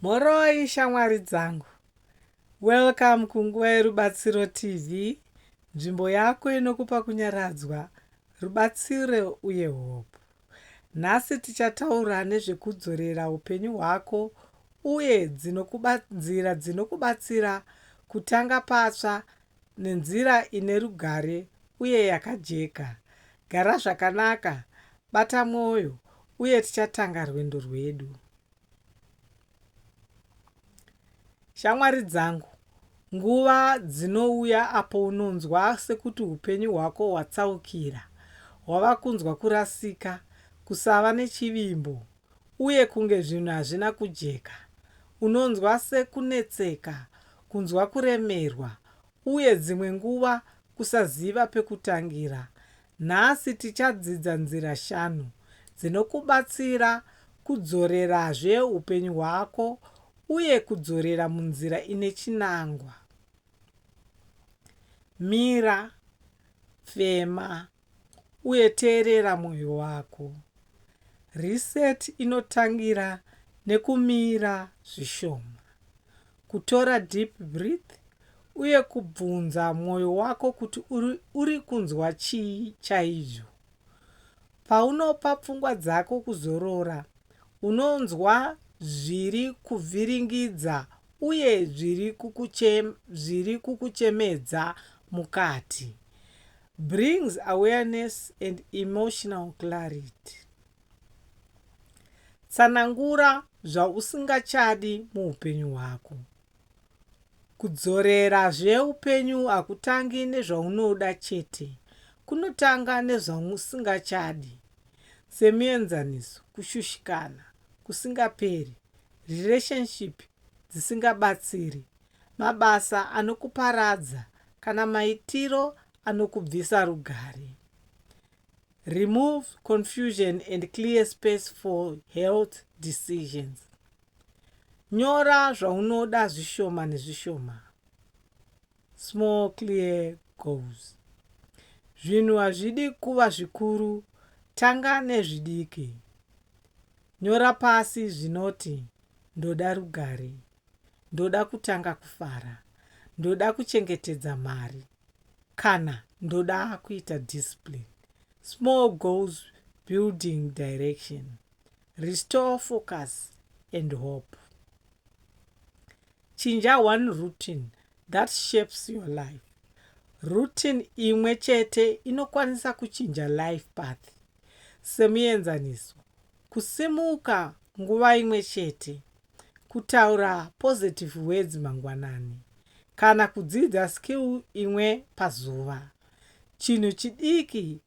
Mhoroi shamwari dzangu. Welcome kunguva yerubatsiro TV, nzvimbo yako inokupa kunyaradzwa, rubatsiro uye hope. Nhasi tichataura nezvekudzorera upenyu hwako uye dzinokuba, nzira dzinokubatsira kutanga patsva nenzira ine rugare uye yakajeka. Gara zvakanaka, bata mwoyo, uye tichatanga rwendo rwedu. Shamwari dzangu, nguva dzinouya apo unonzwa sekuti upenyu hwako hwatsaukira, hwava kunzwa kurasika, kusava nechivimbo, uye kunge zvinhu hazvina kujeka. Unonzwa sekunetseka, kunzwa kuremerwa, uye dzimwe nguva kusaziva pekutangira. Nhasi tichadzidza nzira shanu dzinokubatsira kudzorerazve upenyu hwako uye kudzorera munzira ine chinangwa. Mira. Fema. uye teerera mwoyo wako. Reset inotangira nekumira zvishoma, kutora deep breath uye kubvunza mwoyo wako kuti uri kunzwa chii chaizvo. Paunopa pfungwa dzako kuzorora, unonzwa zviri kuvhiringidza uye zviri kukuchemedza mukati. Brings awareness and emotional clarity. Tsanangura zvausingachadi muupenyu hwako. Kudzorera zveupenyu hakutangi nezvaunoda chete, kunotanga nezvausingachadi. Semuenzaniso, kushushikana kusingaperi, relationship dzisingabatsiri, mabasa anokuparadza kana maitiro anokubvisa rugare. Remove confusion and clear space for health decisions. Nyora zvaunoda zvishoma nezvishoma. Small clear goals. Zvinhu hazvidi kuva zvikuru, tanga nezvidiki. Nyora pasi zvinoti ndoda rugare. ndoda kutanga kufara ndoda kuchengetedza mari kana ndoda kuita discipline small goals building direction restore focus and hope chinja one routine that shapes your life routine imwe chete inokwanisa kuchinja life path semuenzaniso kusimuka nguva imwe chete kutaura positive words mangwanani kana kudzidza skill imwe pazuva. Chinhu chidiki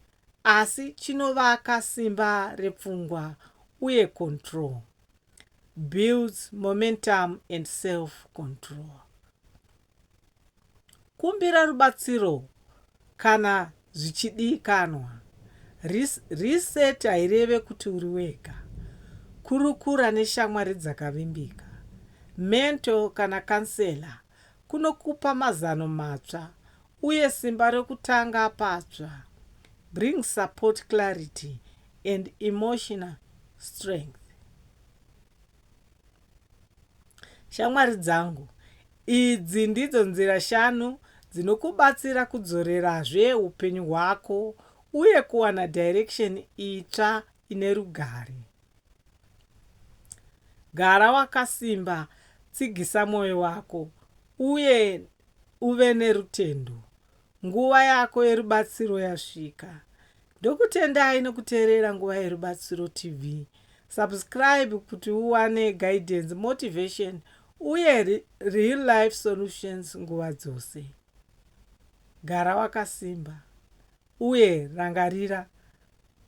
asi chinovaka simba repfungwa uye control builds momentum and self control. Kumbira rubatsiro kana zvichidikanwa. Reset haireve kuti uri wega. Kurukura neshamwari dzakavimbika, mentor kana counselor kunokupa mazano matsva uye simba rokutanga patsva. Bring support clarity and emotional strength. Shamwari dzangu, idzi ndidzo nzira shanu dzinokubatsira kudzorerazve upenyu hwako uye kuwana direction itsva ine rugare. Gara wakasimba, tsigisa mwoyo wako, uye uve nerutendo. Nguva yako yerubatsiro yasvika. Ndokutendai nokuteerera Nguva yeRubatsiro TV. Subscribe kuti uwane guidance, motivation uye real life solutions nguva dzose. Gara wakasimba uye rangarira,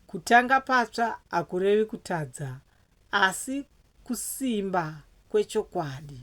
kutanga patsva hakurevi kutadza asi kusimba kwechokwadi.